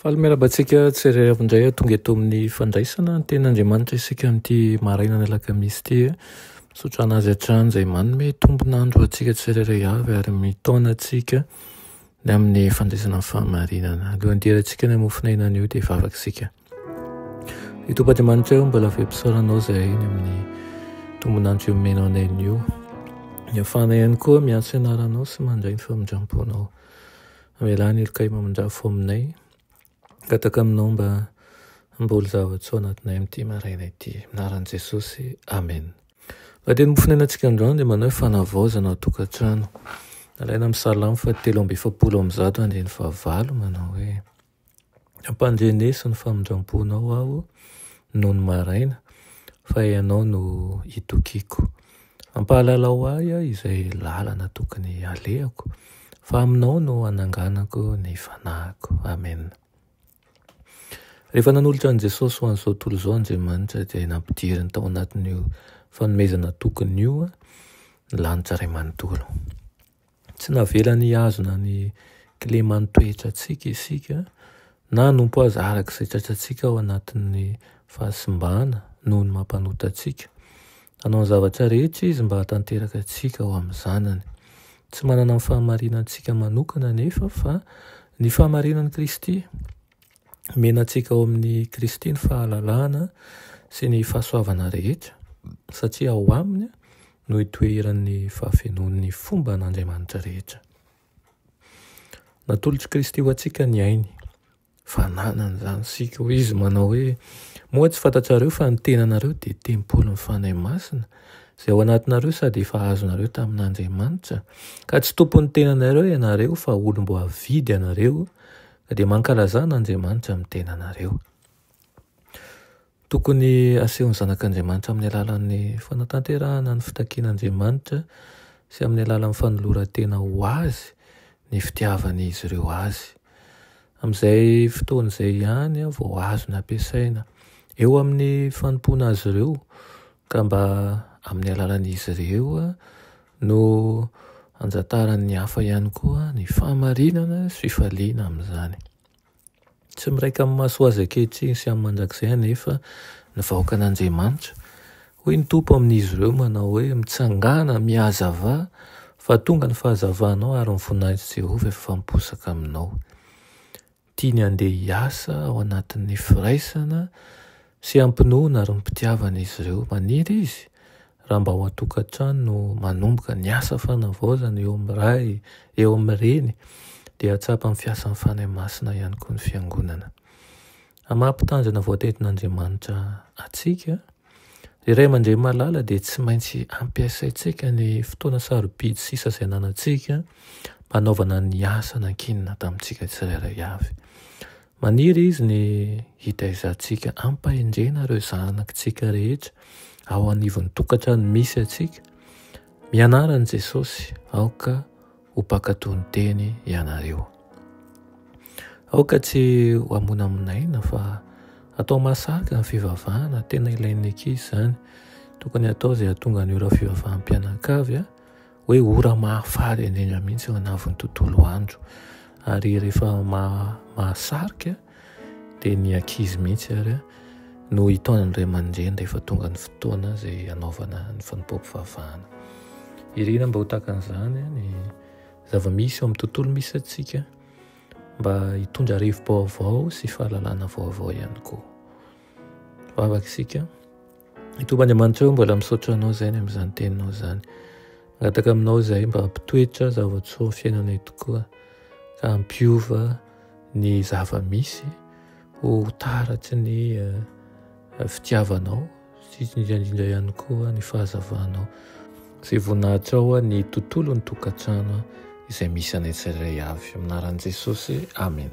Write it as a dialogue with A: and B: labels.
A: Faly miarahaba antsika tsirairay avy indray tonga eto amin'ny fandraisana ny tenin'Andriamanitra isika amin'ity marainana alakamisy ity. Misaotra an'azy hatrany izay manome tombon'andro antsika tsirairay avy ary mitaona antsika ny amin'ny fandraisana ny fahamarinana. Alohan'ny hidirantsika ny hamofon'aina anio dia vavaka isika. I Tompoadiamanitra io mbola vempisaoranao izay ny amin'ny tombonandro io menao anay io. Ny afana ihany koa miantso anaranao sy mandray ny famindram-ponao. Amelany ilokay mamindra fo aminay. Gataka aminao mba hamboly zava-tsoa ao anatinay amin'ity maraina ity. Anaran'i Jesosy, Amen. Mpandeha ny mofon'ainantsika androany dia manao fanavaozana ao an-tokantrano. Alaina amin'ny Salamo fahatelo amby efapolo amby zato andininy fahavalo manao hoe. Ampandreneso ny famindram-ponao aho nony maraina, fa ianao no itokiako. Ampahalalao ahy izay lalana tokony halehako, fa aminao no hananganako ny fanahiko. Amena. Rehefa nanolotra an'i Jesosy ho an'izao tontolo izao Andriamanitra, dia nampidiriny tao anatin'io fanomezana tokony io ny lanitra iray manontolo. Tsy navelany hihazona ny kileman'ny toetrantsika isika, na hanompo azy araka izay tratrantsika ao anatin'ny fahasimbana noho ny maha-mpanota antsika. Nanao ny zavatra rehetra izy mba hahatanteraka antsika ho amin'ny Zanany. Tsy manana ny fahamarinantsika manokana anefa fa ny fahamarinan'i Kristy. Omena antsika ao amin'i Kristy ny fahalalahana sy ny fahasoavana rehetra, satria ao Aminy no itoeran'ny fahafenoan'ny fomba an'Andriamanitra rehetra. Natolotr'i Kristy ho antsika ny ainy. Fananany izany isika. Hoy izy manao hoe, moa tsy fantatrareo fa ny tenanareo dia tempolin'ny Fanahy Masina izay ao anatinareo sady efa azonareo tamin'Andriamanitra, ka tsy tompon'ny tenanareo ianareo fa olom-boavidy ianareo Dia mankalazà an'Andriamanitra amin'ny tenanareo. Tokony hasehon'ny zanak'Andriamanitra amin'ny alalan'ny fanatanterahana ny fitakian'Andriamanitra sy amin'ny alalan'ny fanoloran-tena ho Azy ny fitiavan'izy ireo Azy. Amin'izay fotoana izay ihany vao azony ampiasaina. Eo amin'ny fanompoana Azy ireo Ka mba amin'ny alalan'izy ireo no anjataran'ny hafa ihany koa ny fahamarinana sy fifaliana amin'izany. Tsy miraika amin'ny maso azy ankehitriny sy amin'ny mandrakizay anefa ny vahoakan'Andriamanitra. Hoy ny Tompo amin'izy ireo manao hoe, Mitsangàna, mihazavà, fa tonga ny fahazavanao ary ny voninahitry Jehovah efa miposaka aminao. Tiany handeha hiasa ao anatin'ny firaisana sy hampinoana ary mpitiavana izy ireo. Maniry izy raha mba ao an-tokantrano no manomboka ny asa fanavaozana eo amin'ny ray, eo amin'ny reny, dia hahatsapa amin'ny fiasan'ny Fanahy Masina ihany koa ny Fiangonana. Amin'ny maha-mpitandrina voatetin'Andriamanitra antsika, Ry Ray aman-dReny malala dia tsy maintsy ampiasaintsika ny fotoana sarobidy sisa izay ananantsika mba hanaovana ny asa nankinina tamintsika tsirairay avy. Maniry Izy ny hitaizantsika ampahendrena ireo zanakitsika rehetra ao anivon'ny tokantrano misy antsika. Mianara an'i Jesosy aoka ho mpankatò ny teny ianareo. Aoka tsy ho hamonamonaina fa atao mahasarika ny fivavahana, tena ilain'ny ankizy izany. Tokony atao izay hahatonga ny ora fivavaham-pianakavy hoe ora mahafaly indrindra mihitsy eo anavon'ny tontolo andro ary rehefa mahasarika dia ny ankizy mihitsy ary no hitaonan'ny ray aman-dreny rehefa tonga ny fotoana izay hanaovana ny fanompoam-pivavahana. Irina mba ho tahaka an'izany ny zava-misy eo amin'ny tontolo misy antsika mba hitondra rivo-baovao sy fahalalana vaovao ihany koa. Vavaka isika. I Tompoandriamanitra eo mbola misaotra anao izay ny amin'izany teninao izany. Mangataka aminao izay mba hampitoetra zava-tsoa fiainanay tokoa ka hampiova ny zava-misy ho taratry ny eh, fitiavanao sy indrindra ihany koa ny fahazavanao izay voninahitra ao ny tontolon'ny tokantrano izay misy anay tsirairay avy aminaran'i Jesosy amen